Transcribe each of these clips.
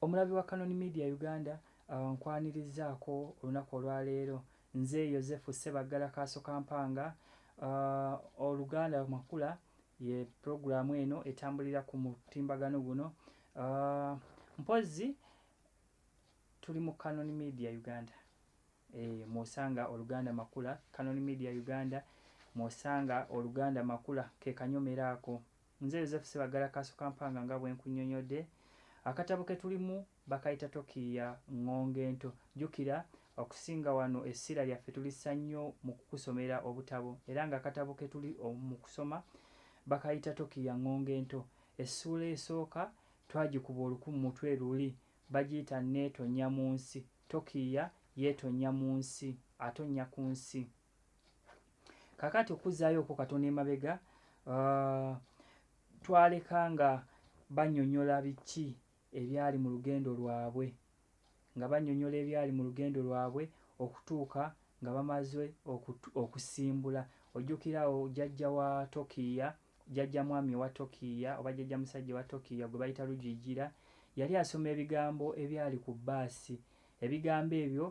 omulabi wa canon media uganda uh, nkwanirizaako olunaku olwaleero nze yosefu sebaggala kaaso kampanga uh, oluganda makula ye puroguramu eno etambulira ku mutimbagano guno uh, mpozzi tuli mu canon media uganda e, mwosanga oluganda makula canon media uganda mwosanga oluganda makula kekanyomero ako Nze Yozefu Ssebaggala Kaasukampanga nga bwe nkunnyonnyodde, akatabo ke tulimu bakayita Tokiiya ŋŋonge ento. Jjukira, okusinga wano essira lyaffe tulissa nnyo mu kukusomera obutabo era ng'akatabo ke tuli mu kusoma bakayita Tokiiya ŋŋonge ento. Essuula esooka twagikuba oluku mu mutwe luli, bagiyita Nneetonnya mu nsi. Tokiiya yeetonnya mu nsi, atonnya ku nsi. kakati okuzzaayo okwo katonda emabega uh, twaleka nga banyonyola biki ebyali mu lugendo lwabwe nga banyonyola ebyali mu lugendo lwabwe okutuuka nga bamaze okusimbula ojjukirawo jajja wa tokiya Jjajja mwami wa Tokiiya oba Jjajja musajja wa Tokiiya gwe bayita Rugiigira yali asoma ebigambo ebyali ku bbaasi. Ebigambo ebyo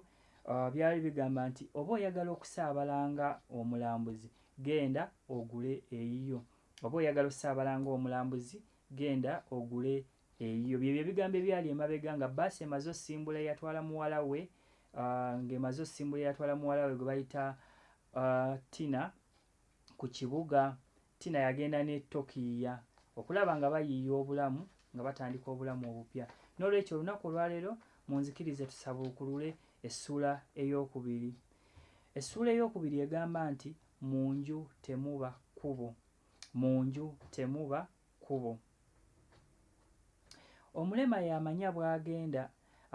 byali bigamba nti oba oyagala okusaabala nga omulambuzi genda ogule eyiyo. Oba oyagala osaabala nga omulambuzi genda ogule eyiyo. Bye bye bigambo ebyali emabega nga bbaasi emaze osimbula eyatwala muwala we ng'emaze osimbula eyatwala muwala we gwe bayita Tina. ku kibuga tina yagenda ne tokiiya okulaba nga bayiiya obulamu nga batandika obulamu obupya n'olwekyo olunaku olwaleero munzikirize tusabuukulule essuula ey'okubiri essuula ey'okubiri egamba nti mu nju temuba kkubo mu nju temuba kkubo. Omulema y'amanya bw'agenda.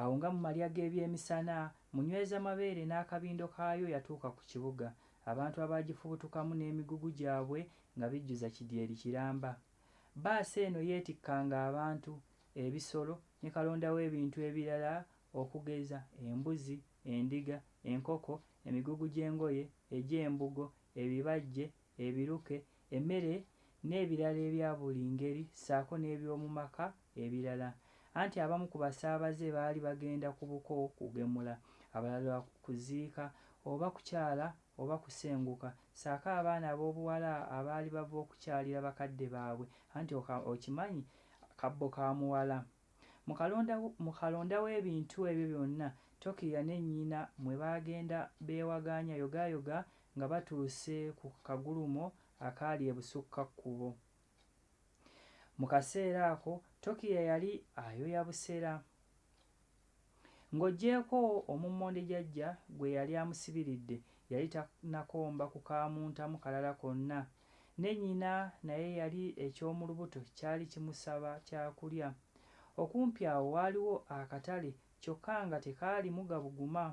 Awo nga mu malya g'ebyemisana, Munywezamabeere n'akabindo kaayo yatuuka ku kibuga, abantu abaagifubutukamu n'emigugu gyabwe nga bijjuza kidyeri kiramba. Bbaasi eno yeetikkanga abantu, ebisolo ne kalonda w'ebintu ebirala okugeza, embuzi, endiga, enkoko, emigugu gy'engoye, egy'embugo, ebibajje, ebiruke, emmere n'ebirala ebya buli ngeri ssaako n'eby'omu maka ebirala anti abamu ku basaabaze baali bagenda ku buko kugemula, abalala kuziika oba kukyala oba kusenguka ssaako abaana ab'obuwala abaali bava okukyalira bakadde baabwe anti okimanyi kabbo ka muwala. Mu kalonda, mu kalonda w'ebintu ebyo byonna, Tokiya ne nnyina mwe baagenda beewagaanya yogaayoga nga batuuse ku kagulumo akaali ebusukka kkubo. Mu kaseera ako, Tokiya yali ayoya busera. Ng'oggyeeko omummonde Jajja gwe yali amusibiridde, yali tannakomba ku kaamuntamu kalala konna. Ne nnyina naye eyali eky'omu lubuto kyali kimusaba kyakulya. Okumpi awo waaliwo akatale kyokka nga tekaalimu gabuguma.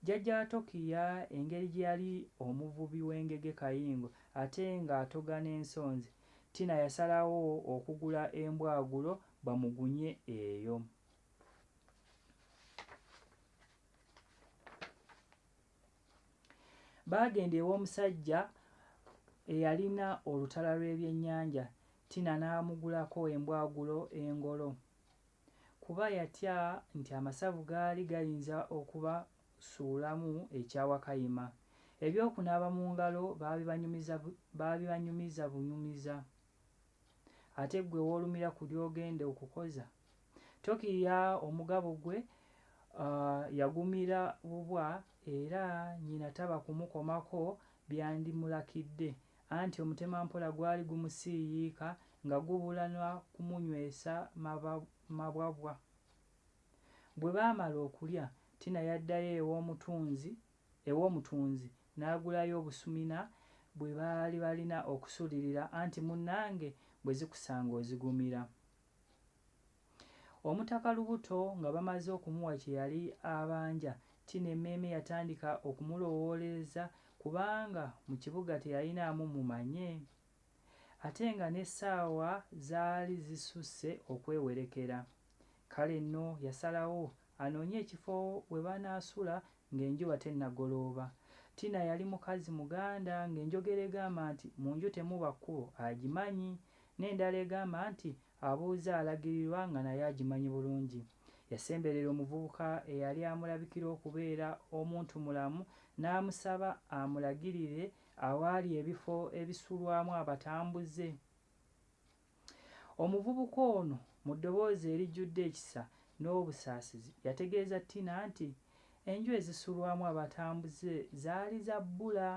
Jjajja wa Tokiya engeri gye yali omuvubi w'engege kayingo ate ng'atoga n'ensonzi, Tina yasalawo okugula embwagulo bamugunye eyo. Baagenda ew'omusajja eyalina olutala lw'ebyennyanja, Tina n'amugulako embwagulo engolo kuba yatya nti amasavu gaali gayinza okubasuulamu ekya Wakayima. Eby'okunaaba mu ngalo baabibanyumiza baabibanyumiza bunyumiza. Ate ggwe w'olumira ku ly'ogenda okukoza? Tokiiya omugabo gwe yagumira bubwa era nnyina taba kumukomako byandimulakidde anti omutemampola gwali gumusiiyiika nga gubula na kumunywesa mabwabwa. Bwe baamala okulya, Tina yaddayo ew'omutunzi ew'omutunzi n'agulayo obusumina bwe baali balina okusulirira anti munnange bwe zikusanga ozigumira. Omutaka Lubuto nga bamaze okumuwa kye yali abanja, Tino emmeeme yatandika okumulowoolereza kubanga mu kibuga teyalinaamu mumanye ate nga n'essaawa zaali zisusse okwewerekera. Kale nno yasalawo anoonye ekifo we banaasula ng'enjuba tennagolooba. Tina yali mukazi Muganda ng'enjogera egamba nti mu nju temuba kkubo agimanyi n'endala egamba nti abuuza alagirirwa nga nayo agimanyi bulungi. Yasemberera omuvubuka eyali amulabikira okubeera omuntumulamu n'amusaba amulagirire awaali ebifo ebisulwamu abatambuze. Omuvubuka ono mu ddoboozi erijjudde ekisa n'obusaasizi yategeeza Tina nti enju ezisulwamu abatambuze zaali za bbula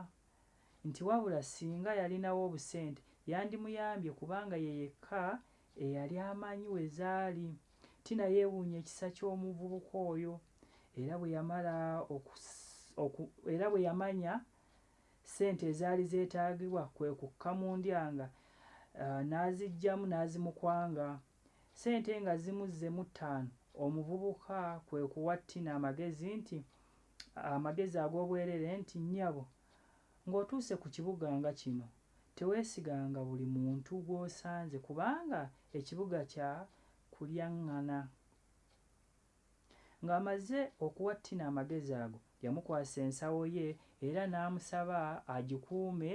nti wabula singa yalinawo obusente yandimuyambye kubanga ye yekka eyali amanyi we zaali. Tina yeewuunya ekisa ky'omuvubuka oyo era bwe yamala oku era bwe yamanya ssente ezaali zeetaagibwa kwe kukka mu ndya nga n'aziggyamu n'azimukwanga. Ssente nga zimuzzemu ttaano, omuvubuka kwe kuwa Tina amagezi nti amagezi ag'obwereere nti, Nnyabo, Ng'otuuse ku kibuga nga kino, teweesiganga buli muntu gw'osanze kubanga ekibuga kya kulyaŋŋana. Ng'amaze okuwa Ttina amagezi ago, yamukwasa ensawo ye era n'amusaba agikuume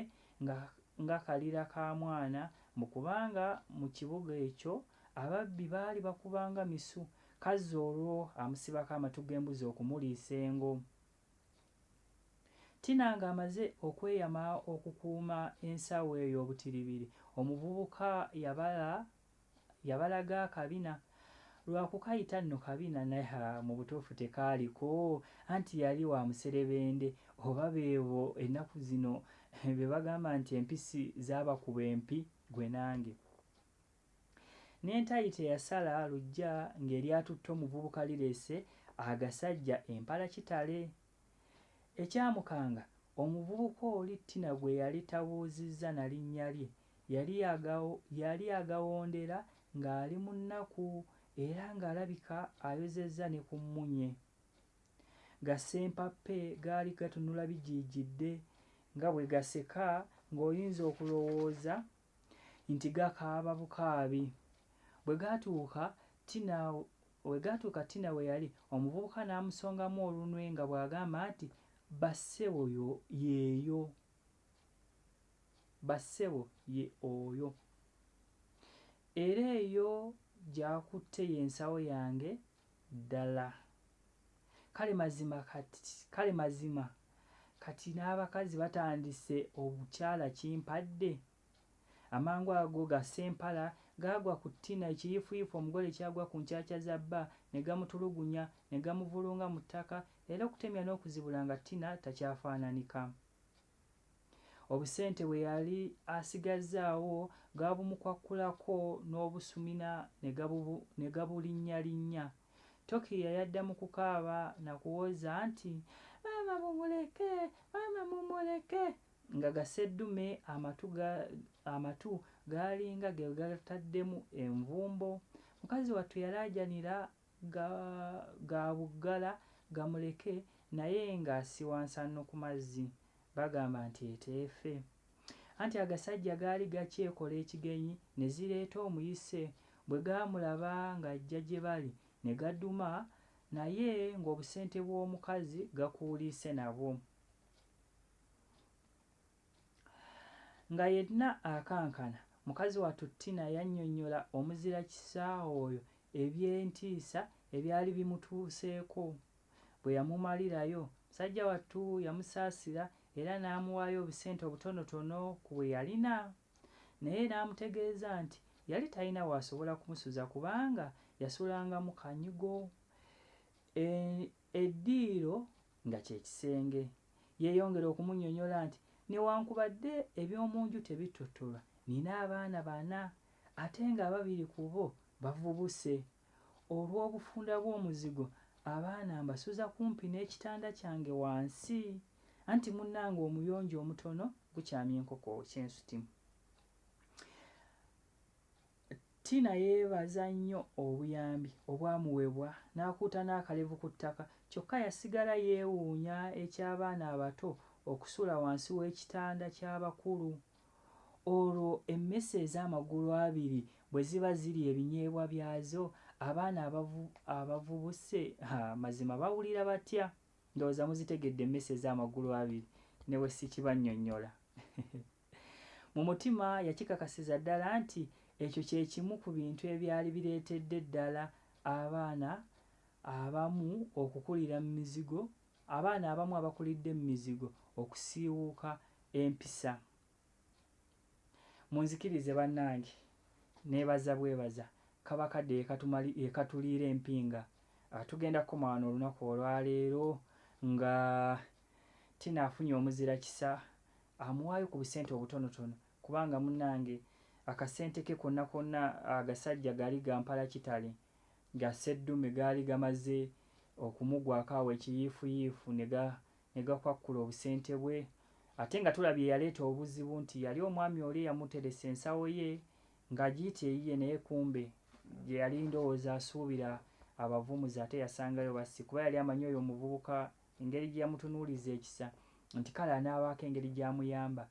nga kalira ka mwana mbu kubanga mu kibuga ekyo ababbi baali bakuba nga misu, kazzi olwo amusibako amatu g'embuzi okumuliisa engo. Tina ng'amaze okweyama okukuuma ensawo eyo obutiribiri, omuvubuka yabala yabalaga akabina. Lwa kukayita nno kabina naye ha mu butuufu tekaaliko anti yali wa muserebende oba beebo ennaku zino be bagamba nti empisi zaabakuba empi ggwe nange. N'entayi teyasala luggya ng'eryatutte omuvubuka lireese agasajja empala kitale. Ekyamukanga, omuvubuka oli Tina gwe yali tabuuzizza na linnya lye yali agawondera ng'ali mu nnaku era ng'alabika ayozezza ne ku mmunye. Ga ssempappe gaali gatunula bijiijidde nga bwe gaseka ng'oyinza okulowooza nti gakaaba bukaabi. Bwe gaatuuka Tina we gaatuuka Tina we yali, omuvubuka n'amusongamu olunwe nga bw'agamba nti, Bassebo yo yeeyo. Bassebo ye oyo. Era eyo gy'akutte y'ensawo yange ddala. Kale mazima kati, kale mazima kati n'abakazi batandise obukyala kimpadde. Amangu ago ga ssempala gaagwa ku Tina ekiyiifuyiifu omugole ky'agwa ku nkyakya za bba ne gamutulugunya, ne gamuvulunga mu ttaka, era okutemya n'okuzibula nga Tina takyafaananika. Obusente bwe yali asigazzaawo gaabumukwakkulako n'obusumina ne gabulinnyalinnya. Tokiiya yadda mu kukaaba na kuwoza nti, Maama mumuleke! Maama mumuleke! nga gaseddume amatu gaalinga ge gataddemu envumbo. Mukazi wattu yalaajanira ga ga buggala gamuleke naye nga siwansanno ku mazzi bagamba nti eteefe anti agasajja gaali gakyekola ekigenyi ne zireeta omuyise bwe gaamulaba ng'ajja gye bali ne gaduma naye ng'obusente bw'omukazi gakuuliise nabwo. Nga yenna akankana, mukazi wattu Tina yannyonnyola omuzira kisa oyo eby'entiisa ebyali bimutuuseeko. Bwe yamumalirayo, musajja wattu yamusaasira era n'amuwaayo obusente obutonotono ku bwe yalina. Naye n'amutegeeza nti yali talina w'asobola kumusuza kubanga yasulangamu kanyigo. E, eddiiro nga kye kisenge. Yeeyongera okumunyonyola nti, Newankubadde eby'omu nju tebittottolwa, nnina abaana bana ate ng'ababiri ku bo bavubuse. Olw'obufunda bw'omuzigo, abaana mbasuza kumpi n'ekitanda kyange wansi, anti munnange omuyonjo omutono gukyamya enkoko kye nsutimu. Tina yeebaza nnyo obuyambi obwamuwebwa n'akuuta n'akalevu ku ttaka kyokka yasigala yeewuunya eky'abaana abato okusula wansi w'ekitanda ky'abakulu olwo emmese ez'amagulu abiri bwe ziba zirya ebinyeebwa byazo abaana abavu abavubuse ha mazima bawulira batya? Ndowooza muzitegedde emmese ez'amagulu abiri ne bwe sikibannyonnyola. Mu mutima yakikakasiza ddala nti ekyo kye kimu ku bintu ebyali bireetedde ddala abaana abamu okukulira mu mizigo, abaana abamu abakulidde mu mizigo okusiiwuuka empisa. Munzikirize bannange nneebaza bwebaza Kabaka de Ekatuliira Empinga. Tugenda kukoma wano olunaku olwaleero nga Tina afunye omuzira kisa amuwaayo ku busente obutonotono kubanga munange akasente ke konna konna agasajja gali gampala kitale ga sseddume gaali gamaze okumugwako awo ekiyiifuyiifu ne gakwakkula obusente bwe ate nga tulabye eyaleeta obuzibu nti yali omwami oli eyamuteresa ensawo ye nga agiyita eyiye naye kumbe gyeyali ndowooza asuubira abavumuzi ate yasangayo bassi kuba yali amanyi oyo omuvubuka Engeri gye yamutunuuliza ekisa nti kale anaabaako engeri gy'amuyamba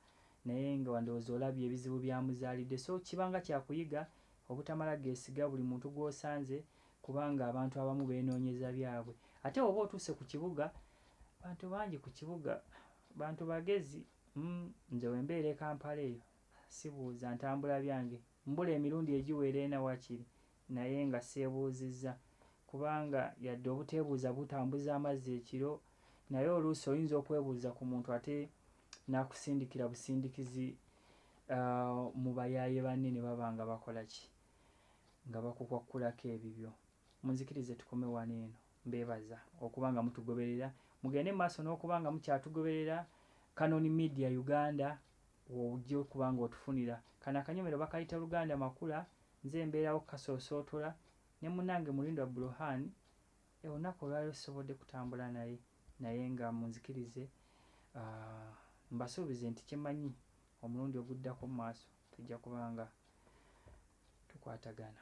naye nga wandowooza olabye ebizibu by'amuzaalidde so kiba nga kya kuyiga obutamala geesiga buli muntu gw'osanze kubanga abantu abamu beenoonyeza byabwe ate bw'oba otuuse ku kibuga bantu bangi ku kibuga bantu bagezi mm nze we mbeera e Kampala eyo sibuuza ntambula byange mbula emirundi egiwera ena wakiri Naye nga sseebuuzizza. Kubanga yadde obuteebuuza butambuza amazzi ekiro, naye oluusi oyinza okwebuuza ku muntu ate n'akusindikira busindikizi mu bayaaye banne ne baba nga bakola ki? Nga bakukwakkulako ebibyo. Munzikirize tukome wano eno. Mbeebaza okuba nga mutugoberera. Mugende mu maaso n'okuba nga mukyatugoberera. Canon Media Uganda w'ojja okuba ng'otufunira. Kano akanyomero bakayita Luganda Makula. Nze mbeerawo Kasoosootula ne munnange Mulindwa Bruhan. Olunaku olwaleero sisobodde kutambula naye naye nga munzikirize mbasuubize nti kye mmanyi omulundi oguddako mu maaso tujja kuba nga tukwatagana.